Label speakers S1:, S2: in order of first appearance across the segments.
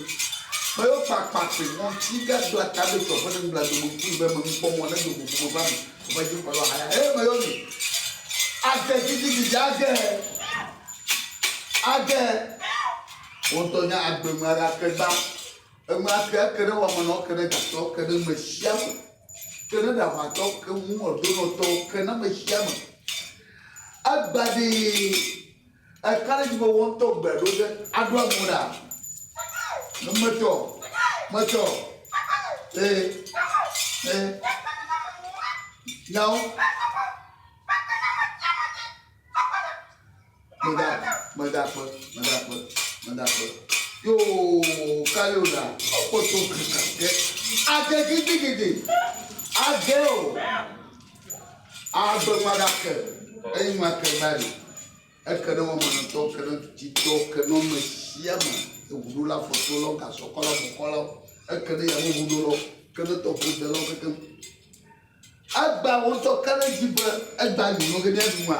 S1: Ame yiwo kpa akpatri ŋu ŋuti yi ke do atabɛtɔ ƒe nublanui me ŋkue be menukpɔmɔ nedo go ƒome ƒe ame woƒe dzikpɔlawo haya eye ame yiwo mi age gidigidi age age woŋutɔ nye agbe ŋu aɖe ake gba eme ake eke ɖe wɔmenɔ eke ɖe gatɔ ke ɖe ame sia ame ke ɖe ɖaʋatɔ ke ŋu edonɔtɔ ke na ame sia ame egbadii Ekaɖedzi be wò ŋutɔ gbe ɖo ge aɖo amo ɖa? Ne metsɔ o, metsɔ o. Ee, ee. Nyawo. Meda, meda kpe, meda kpe, meda kpe. Yoo, kayo ɖa. Kpɔtɔ kaka ke. Ade gidigidi. Ade o. Ado ŋua ɖa ke eyi ŋua ke va ɖi. Eke ne wɔmenɔtɔ, eke ne tututɔ, eke ne ame sia ame, eŋuɖola, afɔtolɔ, gasɔkɔlɔ, mɔkɔlɔ, eke ne yameŋuɖolɔ, eke ne tɔƒodelɔ kekeŋ. Egba wo ŋutɔ ka ɖe edzi be egba yi nɔ ge ne yeaɖu nua?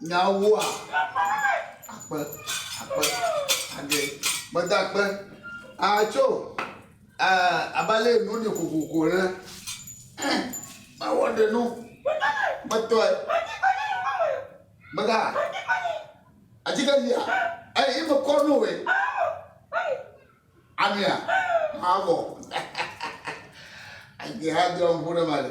S1: nyawoa? Akpe, akpe, age, gbedakpe, atso, abale enu ni kokoko ene. Mawɔ ɖe nu, metɔe, mega, atike lia, eyi me kɔ nu we, amia, mawɔ. Age hã dɔ ŋu ɖe ma le.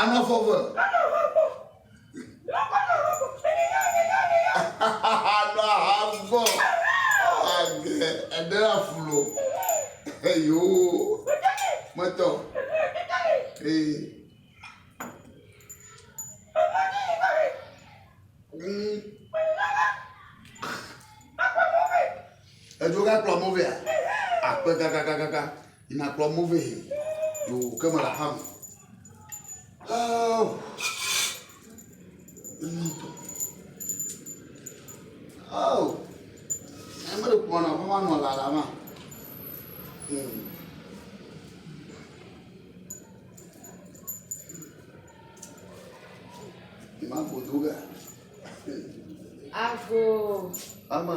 S1: Ame eve eve. Anɔ aha gbɔ. Age ede afulo. Eyo. Mɔtɔ. Ee. Mm. Edzo kakplɔ mo vea. Akpe kakakakaka. Yi nàkplɔ mɔ vɛ yi dzo ke mele aƒea me. Oh. Oh. Ame ɖe kplɔ na aƒe ma nɔ lala ma. Hmm. Ima godo ga. Ago.
S2: Ama.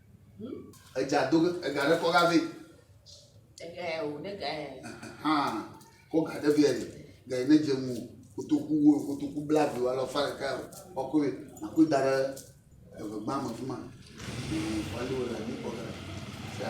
S1: Edza do ge ega ɖe kɔ ga vɛ. Ega
S2: ya o ne ga ya. Hàn
S1: kɔ ga ɖe vɛ ni ga yi ne dze ŋu kotoku wo kotoku bla vi wa lɔ fa ɖeka o kɔ koe na koe da ɖe eve gbã me fi ma. Wali wo le mi kɔ ga. Sa.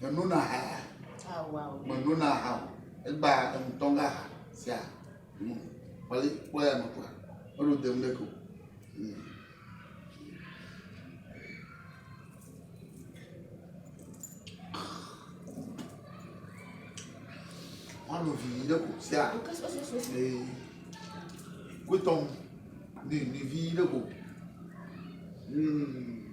S1: Menona aha ya.
S2: Menona aha o.
S1: Egba ŋutɔ ŋga aha sia. Kpɔli kpɔ ya me kpɔa. Ɔɖo dem ɖe ko. Ɔɖo vi ɖe ko sia. Kutɔm. Ni ni vi ɖe ko. Mm.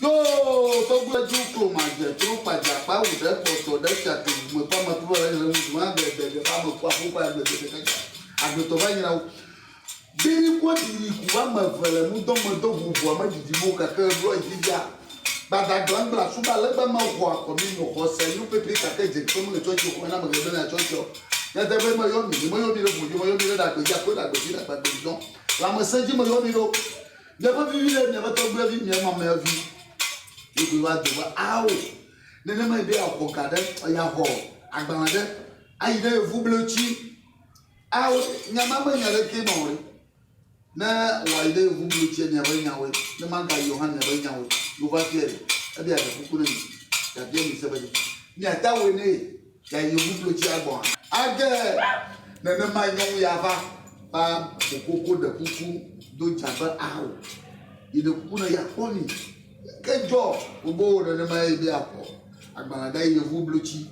S1: Yoo, gbogbo ju kloma je tro kpadza kpa wu ɖe kpɔtɔ ɖe fia ke me kpa me klo le ŋu ma be de de ba me kwa fo ba gbe de de ka. Agbetɔ va nyina wo. Biri ko diri ku ba me ve le mu do me do hu bo me didi mo ka ke blo jija. Ba da glan bla su ba le ba me ho akọ mi mo ho se nu pepe ka ke je kpem le chocho ko na me gbe na chocho. Ya de be me yo mi, me yo mi le bu yo me yo mi le da gbe ja ko da gbe ji da gbe gbe don. La me se ji me yo mi do. Miaƒe vivi ɖe miaƒe tɔgbuivi, mia mameavi ɖe koe va do va ao. Nenemae be yeaxɔ ga ɖe, yeaxɔ agbalẽ ɖe ayi ɖe yevublotsi ao. Nya ma menye nya aɖekee ma o ɖe. Ne wòayi ɖe yevublotsiɛ, miaƒe nyawoe, ne magayi o hã miaƒe nyawoe. Yehowa biae be, Ebia ɖe kuku na mi, yeabia mi se be ɖe miade awoe nɛ. le yewo bublodzia gbɔ hã. Age nenemae nyɔnu ya va va kokoko ɖe kuku do dza be ao. Yeɖe kuku ne yeakpɔ ni. Ke dzɔ wobo wo nenemae be yeakpɔ agbalẽ ɖe yevu blotsi.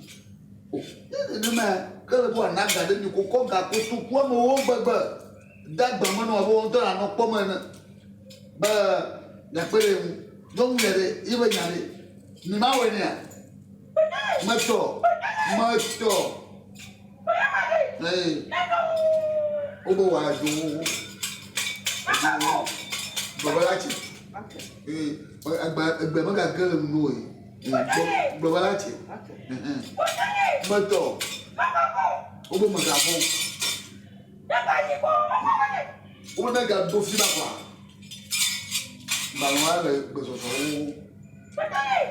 S1: O, ne nenemae ke le be wòana ga ɖe mi kokɔ ga kotoku amewo gbegbe de agba me nɔ abe wo ŋutɔ nanɔ kpɔm ene be miakpe ɖe ye ŋu. Nyɔnu ya ɖe, ye be nya ɖe, mi mawɔe nɛa? Metɔ, metɔ. Hey. Obo wa do. Baba la tse. Hey. Agba egbe me ga ge le nu o. Baba la tse. Metɔ. Obo me ga bo. Obo ne ga do fi ba kwa. Mbalwa le gbesɔsɔ wo.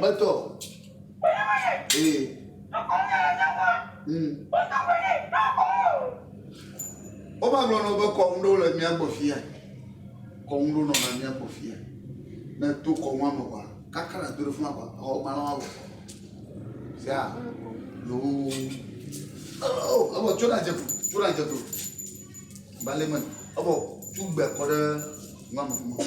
S1: Metɔ. Ee. Mm. Wova gblɔ nɔ be kɔnu ɖewo le mía gbɔ fia. Kɔnu ɖewo nɔ na mía gbɔ fia. Ne to kɔnua me kɔa, kaka na do ɖe funa kɔa, exɔ gbalẽ wa wɔ. Sia. Yoo. Oh, ebo tso na dzeku, tso na dzeku. Balẹ̀ mọ̀, ebo tso gbẹ kɔ ɖe nua me fún mọ̀.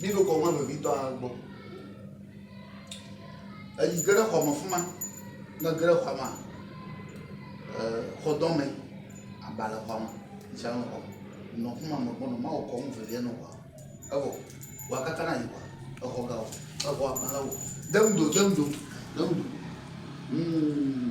S1: Míɖo kɔŋua vevitɔ ale gbɔ. Eyi ge ɖe xɔa me fima, ne ege ɖe xɔa mea, xɔdɔme aba le xɔa me. Ŋutsua nɔ xɔa me. Nɔ afi ma me kpɔ nɔ Mawu kɔŋ veviɛ nɔ xɔa me. Evɔ xɔa kaka na Yehowa. Exɔ ga wò. Exɔa gbalẽ wò. Deŋ do, deŋ do, deŋ do. Huumm.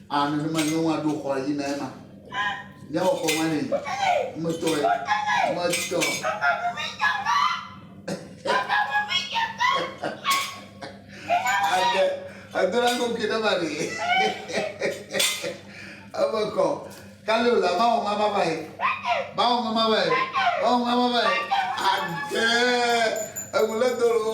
S1: Aa nenema nyɔnua ɖo xɔa yina ema miawɔ kɔ ma nɛ metɔe metɔ ade edona koke ɖe ma ɖe eme kɔ kali o la mawɔ ma ma vae mawɔ ma ma vae mawɔ ma ma vae ade eŋu le dolo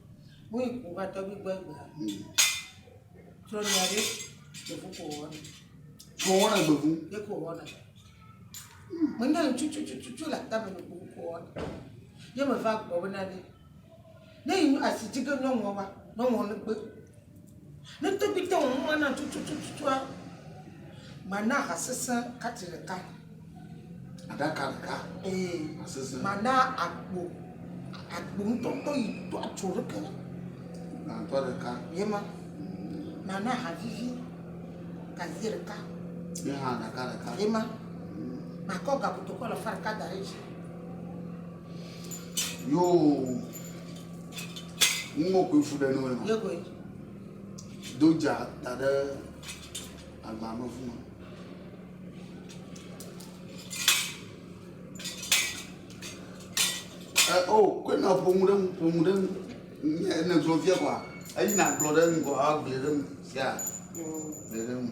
S1: Woi ku
S3: va tɔgbi gbɔ egbe. Trɔ nya ɖe gbevu ko wɔna. Ko wɔna
S1: gbevu. Ɖe ko wɔna.
S3: Me nya ŋutsu tsu tsu tsu tsu le atame ne gbevu ko wɔna. Ye me va gbɔ be na ne ne yi asi dzi ke nyɔnua wa nyɔnua ne gbe. Ne tɔgbite wò muma na tutututua, mana ha sesẽ kati ɖeka.
S1: Aɖaka ɖeka. Ee. Ha sesẽ. Mana agbo,
S3: agbo ŋutɔŋutɔ yi to atso ɖeke. Gbãtɔ
S1: ɖeka. Ye ma.
S3: Mana ha vivi gaze ɖeka. Ye
S1: ha ɖaka ɖeka. Ye ma.
S3: Makɔ gakotokɔ le fa ɖeka da ɖe dzi.
S1: Yoo, nuwo koe fu ɖe nɔe ma. Yekoe.
S3: Do
S1: dza da ɖe agba me fuma. Ɛ eh, o, oh, koe na ƒomu ɖe ŋu, ƒomu ɖe ŋu. Ne gblɔ fia kɔa, eyi na gblɔ ɖe ŋu kɔa, agblɔ ɖe ŋu fia. Gblɔ mm. ɖe ŋu.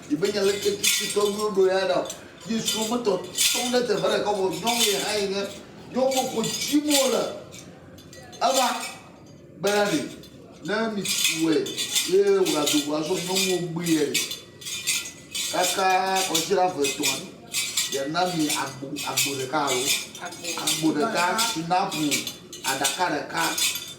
S1: Di be nya leke tsitsi tɔgbi woɖo ya ɖa o. Yesu me tɔ sɔŋ ɖe teƒe ɖeka vɔ nyɔnu ye hã yi nye nyɔnua ko dzim wole. Eva be na ɖe ne mitsue ye wògado go azɔ nyɔnuwo gbui ye ɖe. Kaka kɔdzira ve tɔa ɖe yena mi agbo agbo ɖeka alo agbo ɖeka sinapu aɖaka ɖeka.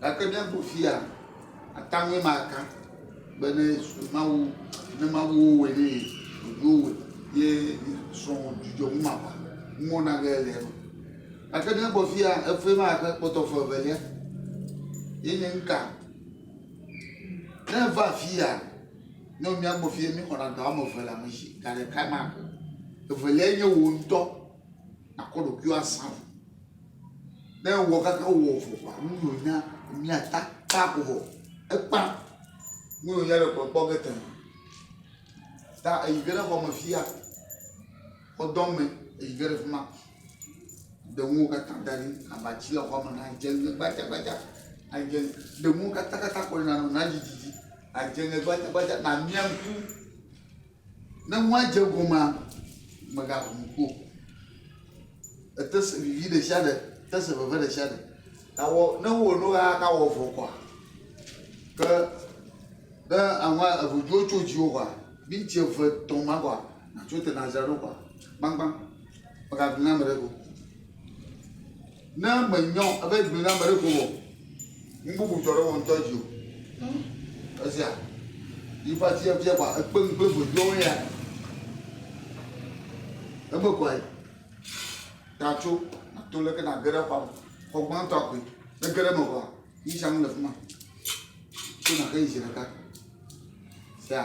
S1: Gake míaƒo fia ata ŋue ma aka be ne Yesu Mawu ne Mawu wo wɔe ne ye ɖoɖowo wɔe ye srɔ̃ wò dzudzɔ ŋu ma ʋa ŋu wɔna ge le eme. Gake ne gbɔ fia efue ma aka kpɔtɔ fɔ evelia ye nye ŋka. Ne va fia ne míagbɔ fia mi wɔna dɔ ame eve le ame shi ga ɖeka ma aka. Evelia nye wò ŋutɔ. Nàkɔ ɖokuiwò azã o. Ne ewɔ kaka wɔ vɔ kpɔ nu yi wònya mia ta kpa ko vɔ. Ekpa nu yi wònya ɖe kplɔ kpɔ ge tẽ. Ta eyi ge ɖe xɔ me fia. Xɔ dɔ me eyi ge ɖe fi ma. Ɖe nuwo katã da ɖi. Abati le xɔa me na dze ŋe gbadzagbadza. Na dze ŋe. Ɖe nuwo katã katã kɔ ɖi na nɔ na dzi dzi dzi. Na dze ŋe gbadzagbadza. Na mia ŋku. Ne nua dze egomea, mègaʋu nu kpɔ o. Ète se vivi ɖesiaɖe, te se veve ɖesiaɖe. Gawɔ ne wowɔ nu ɣea gawɔ vɔ koa? Ke ne aŋa eŋudziwo tso dziwò koa, minti eve, etɔ̃ ma koa, nàtso te nàdzra ɖo koa? Gbagbã, mègaʋli na ame aɖeke o. Ne menyɔ ebe gli na meɖe ko o, nu bubu dzɔ ɖe wò ŋutɔ dzi o. Esia, yi va tsi efia kpa ekpe nu kple veviɔwo ya. Eme kɔe. Ta tso, nato leke nage ɖe xɔa me. Xɔ gbãtɔa koe. Ne ge ɖe eme vɔa, yi sia nu le fi ma. Tso nage yi zi ɖeka. Sea.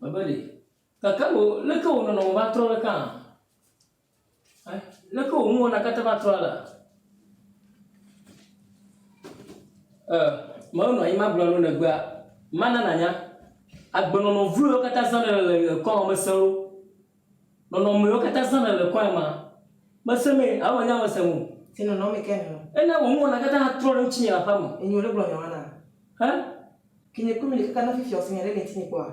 S4: Mebe ɖe. Gake wò, leke wò nɔnɔme va trɔ ɖe kãa? Ẽ? Leke wò nuwɔna katã va trɔ alea? Ẽ, menɔ anyi magblɔ na wò ne egbea, mana nànya agbenɔnɔ vlowo katã zã nèle le nye ŋkɔa me ŋusẽ loo. Nɔnɔmewo katã zãna le kɔe ma. Mese me alo menye ame sem o. Ti nɔnɔme ke nɔ.
S3: Ena wò nuwɔna katã
S4: trɔ ɖe ŋutinye le aƒea me. Enyo ɖe gblɔ nya wana.
S3: Hã? Ke nye kpɔe mele kaka ne fifia wòse nya ɖe le ŋutinye kpɔa?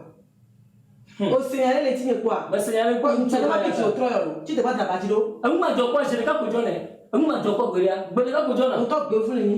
S3: Wòse nya ɖe le ŋutinye kpɔa? Mese nya ɖe kpɔ. Ŋutsu aɖe
S4: va fifia wòtrɔ ya lo.
S3: Tsi deva dra ba dzi ɖo. Enu madzɔ kpɔ zi ɖeka
S4: ko dzɔnɛ. Enu madzɔ kpɔ gbeɖea, gbe ɖeka ko dzɔna. Ŋutɔ gbe vlu mí.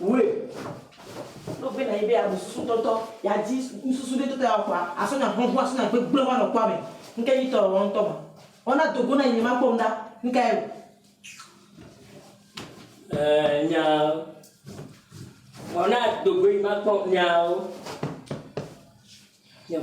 S4: Wee.
S3: No vena yi be ya ɖu susu tɔtɔ, ya dzi nususu ɖe tɔtɔ ya kɔa, a sɔ nya hlɔnhlɔn a sɔ nya gbegblẽ va nɔ kpɔame. Ŋke nyi tɔ ewɔ ŋtɔ ma. Ɔ na dogo na yi nye ma kpɔ ŋɖa, ŋka eo.
S4: Ɛɛ nyao. Ɔ na dogo yi ma kpɔ nyao. Nyao.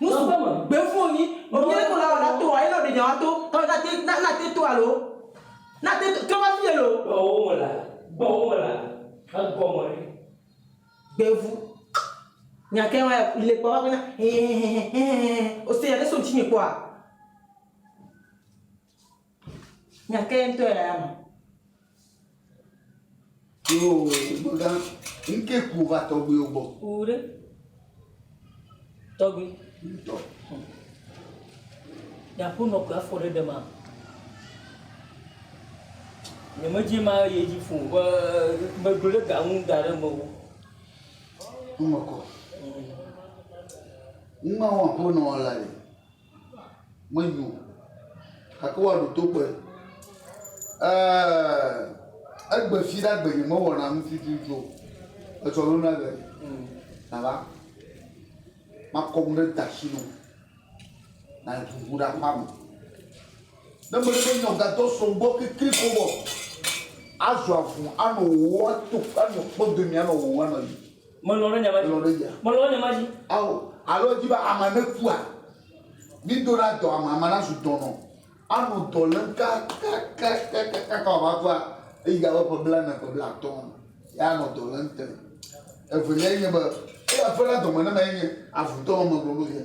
S3: Nusɔƒe me. Gbeŋfu wonyi. Wonyi ɖe kpola wɔ la to wa ye nɔ ɖe nya wa to. Tɔ na te na na te to alo. Na te to trɔ va fi yelo. Gbɔ wo me la. Gbɔ
S4: wo me la. Egɔ me ɖe. Gbeŋfu.
S3: Nya ke wa le kpɔ va be na. Hehehehehehehe. Ose ya ɖe so ŋtsi me kpɔa. Nya kae ŋutɔ ya ya ma?
S1: Yoo, megã, ŋkee ku va tɔgbuiwo gbɔ. Wu ɖe.
S4: Tɔgbui. Ŋutɔ. Yeaƒo nɔ kɔ afɔ ɖe ɖe ma. Nyemedzi ma ye dzi fo be megblɔ ɖe ga ŋu da ɖe mewu.
S1: Ŋmekɔ. Ŋmewɔ ƒo nɔ la le. menyo o, gake woaɖo to kpɔe. Eeeee egbe fi ɖe agbenye mewɔna nu tututu o. Etsɔ ɖo na gbe nava makɔ nu ɖe dasi nu naɖu ŋu ɖe aƒea me. Ne mele be nyɔgadɔ sɔ gbɔ kekle ko wɔ azɔ avu anɔ wowɔ ato anɔ kpɔ dome anɔ wowɔ anɔ yi. Melɔ̃ ɖe nya ma
S4: dzi. Melɔ̃ ɖe nya ma dzi. Ao,
S1: alo edi be amea nekua? Mído ɖa dɔ amea, amea nazu dɔnɔ, anɔ dɔ lém kakakakakaka wòava kua, eyi abe ƒe blaene, ƒe blaatɔ̃, ye anɔ dɔ lém te. Eveliae nye be, eya ƒe la dɔme ne ma ye nye avudɔwɔame gblɔ nu ye.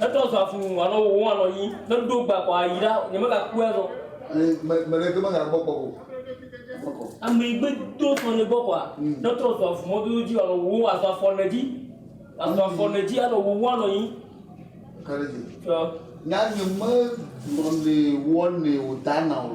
S4: Etrɔ zɔ avu nu anɔ wòwɔm anɔ yiyim. Ne nu ɖewo gbã kɔ, ayi ɖa, nyemegakpɔe azɔ. Eye me, me
S1: ɖeke megagbɔ kpɔ o. Kpɔkɔ.
S4: Ame yi gbe do sɔ ne gbɔ kɔa, ne trɔ zɔ avu mɔdodo dzi anɔ wòwɔm azɔ afɔ ne dzi. Azɔ afɔ ne dzi anɔ wòwɔm anɔ yiyim. Ka ɖe dzi. Ɔ.
S1: Nya nye me gblɔ nɛ wɔnɛ wòdana o.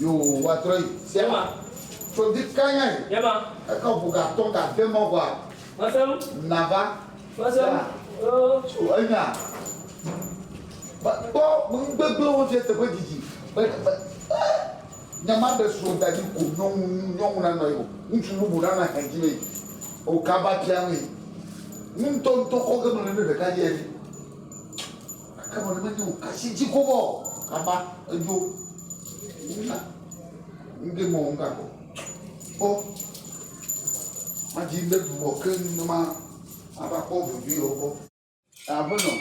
S1: Yehowa trɔ yi Sela, tso di kanya yi eke ʋu
S4: ga tɔn
S1: ga de mɔ ʋua
S4: nava
S1: Sela
S4: tso enya
S1: ba kpɔ ŋgbegble wo fia teƒe didi be be nya ma ɖe so dadi ko nyɔnu nyɔnu na nɔ yi o ŋutsu bubu na na hɛn di me o kaba pia me ŋutɔ ŋutɔ kɔ ge me ne ɖeka di ɛni. Ekema ne menye wò asi dzi ko vɔ o kaba edzo na ŋde mɔ ŋga kɔ kpɔ madzi le bubɔ ke ne ma ava kpɔ vevie o kɔ. Aƒenɔ,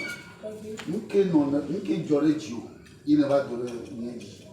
S1: nuke nɔ nuke dzɔ ɖe dziwò yi nèva do ɖe nye dzi?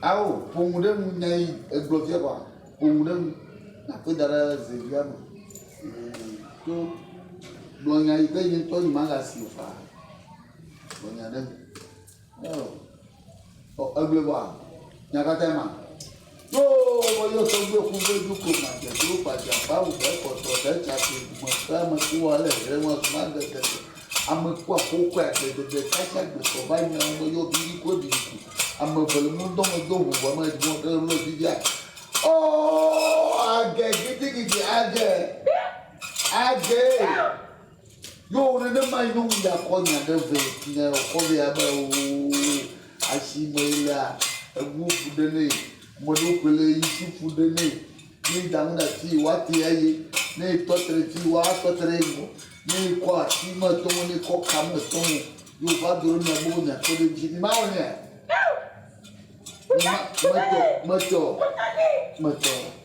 S1: Ao, ƒo nu ɖe eŋu, nya yi egblɔ fia vɔa, ƒo nu ɖe eŋu nakɔe da ɖe ze via me. To gblɔ nya yi ke ye ŋutɔ yi magasi o faa. Gblɔ nya ɖe eŋu. Ao, ɔ egblɔe vɔa, nya katã ye ma? Ɖo meyɔ tɔgbuiwo ƒu vɛ do go madzro gbadzagba ŋu be kpɔtɔ ɖe dzagoe dumegbe ame ku ale hre ŋu azuma ade gege ame ku aƒokɔe agbe dede ka sia gbe tɔ va nya ŋu meyɔ bibi ku ebibi ku ame eve le ŋudɔ me do ŋu ŋu ame ŋu ɖe ŋu bibi a oh age gidigidi age age. Yo nenema yi nɔm ya kɔ nya ɖe vɛ nya ya kɔ vɛ abe oo asi me yi lea eŋu ƒu ɖe nɛ ame ɖewo koe le yi si ƒu ɖe nɛ ne eda nu ɖe ati yi wa te eye ne etɔ te ɖe ti wa tɔ te ɖe eŋu ne ekɔ asi me etɔ mo ne ekɔ ka me etɔ mo yo va do ɖe mia gbɔ nya kpe ɖe dzi mi ma wɔ nea mi ma metɔ metɔ metɔ.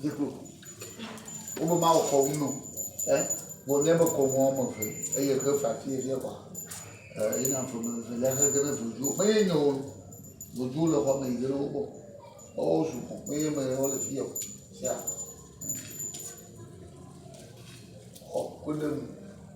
S1: Dziklo. Wobe mawɔ kɔnu no ɛ vɔ míabe kɔnu wɔme eve eye xe fafi eɖe kɔa e yi na ƒome evelia xe ge ne voduwo me ye nyo nu. Voduwo le xɔme yi ge ne wogbɔ. Woawo zu xɔ me ye me wo le fiya o. Sia. Xɔ ku ɖe nu.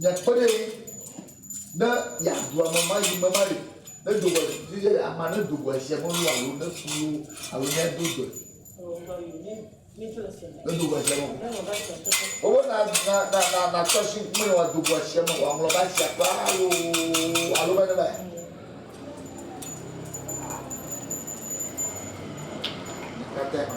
S1: Miakpe ɖe eŋu ne yeaɖu ame ma yi me maɖe ne do vɔe dzi ye amea ne do vɔe sia melu alo ne fu ye wo alo ne do dɔe. Ne do vɔe sia me o. Wobe na na na na na tsɔ si ŋkume ne wòado vɔe sia me wòaŋlɔ ba sia kple alo alo be ne ba. Kata ma.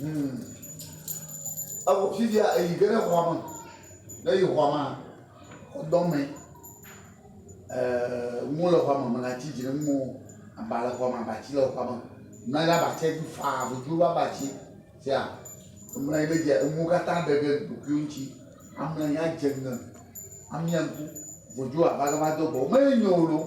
S1: Hum. Evɔ fifia eyi ge ɖe xɔa me. Ne eyi xɔa mea, xɔdɔ me. Eeee nuwo le xɔa me, melãtsi dzi ɖem nuwo. Aba le xɔa me, abatsi le xɔa me. Mlɔ anyi ɖe abatsia dzi faa, voduwo ƒe abatsi. Sia, emlɔ anyi ɖe edzia, enuwo katã ɖe ge ɖokuiwo ŋutsi. Amlɔ anyi adze ŋe, amia ŋku. Voduwo ava gava do gbɔwò. Menyo loo.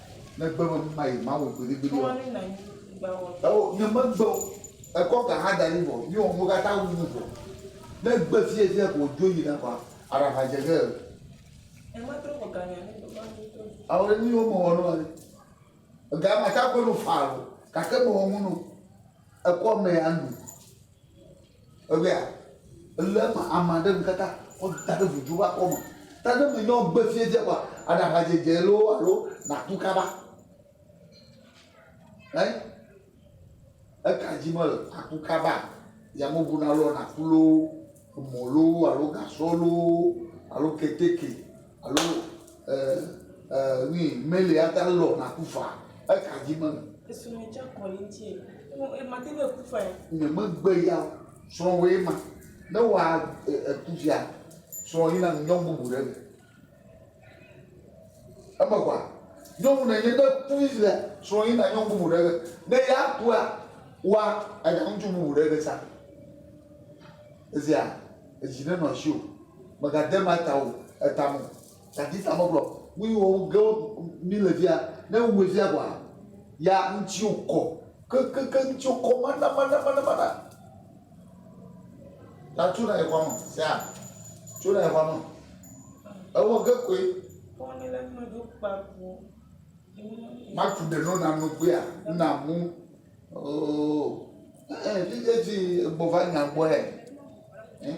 S1: Negbe be nu ma yi ma wɔ gbeɖegbeɖe ɔ,
S3: eo nye me gbe o.
S1: Ekɔ ga hã da ɖi vɔ mi wɔ nuwo kata wu nu vɔ. Ne egbe fiye fiye ko dzo yi na kɔa a ɖa va dze ge eo.
S3: Ao ɖe mi wo me wɔ
S1: nɔ ɖe. Ega ma ta ko nu fa lo gake me wɔ nu no ekɔ mɛ a nu. Ewɛa? Ele eme ame aɖe ŋutata kɔ da ɖe ŋudzu ƒe akɔme. Ta ne menye wogbe fiẽ dze kɔa, aɖa aʋadzedze loo alo nàku kaba. Ɛ? Eka dzi mele? Àku kaba? Yameʋu nalɔ nàku loo mɔ loo alo gasɔ loo alo keteke alo e e nui meli ate ŋu alɔ naku faa eka dzi be. Esɔ mi tsɔ kɔ
S3: li ŋuti e mate ŋu aku faa. Nye megbe
S1: ya o srɔ̃wòe ma ne wa e eku fia srɔ̃ yina nu nyɔ bubu ɖe me. Eme kɔa, nyɔnu ne nye ne ku le srɔ̃ yi na nyɔnu bubu ɖe ge. Ne ya kua, wa anya ŋutsu bubu ɖe ge sa. Ezia, edzi ne nɔ asi o. Mega de ma ta o, eta mo. Tati ta me gblɔ. Mu yi wo ge mi le via, ne wu via kɔa, ya ŋutsu kɔ. Ke ke ke ŋutsu kɔ mana mana mana mana. La tso na ye xɔa me. Sea tso na ye xɔa me. Ewɔ ge koe. Matu ɖe no na nugbea na mu. Oo. Ee, fi dzi gbɔ va nya gbɔe. Eh?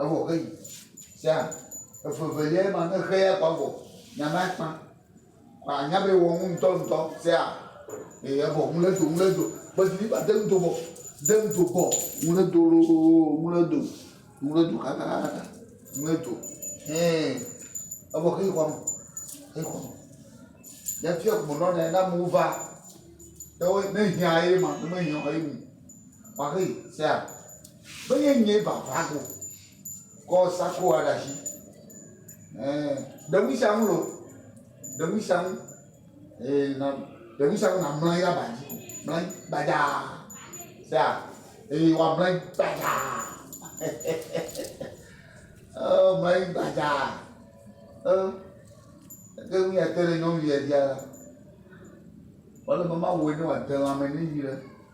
S1: Evɔ xe yi sea evevelia ma ne xe ya kɔa vɔ nya ma kpa kɔ anya be wɔ ŋu ŋutɔ ŋutɔ sea eye evɔ ŋu le do ŋu le do kpesi ni ba de ŋu do bɔ de ŋu do bɔ ŋu le do lo ŋu le do ŋu le do kakakaka ŋu le do hɛn evɔ xe yi xɔ me xe yi xɔ me ya fia kumɔ nɔ ne na mo va ne wo ne hiã ye ma ne me hiã ye mu ma xe yi sea. Menye nyee va va go kɔ sakoa ɖe asi. Ɛɛ, ɖe nu sia nu lo. Ɖe nu sia nu. Ee, na ɖe nu sia nu na mlɔ anyi ɖe aba dzi. Mlɔ anyi gbadzaa. Sea? Eye woamlɔ anyi gbadzaa. Ɔ, mlɔ anyi gbadzaa. Ɔ, eke nu ya te ɖe nyɔnu ya dzia la, wòle be mawɔe ne wòade lãme nɛ nyuie ɖe.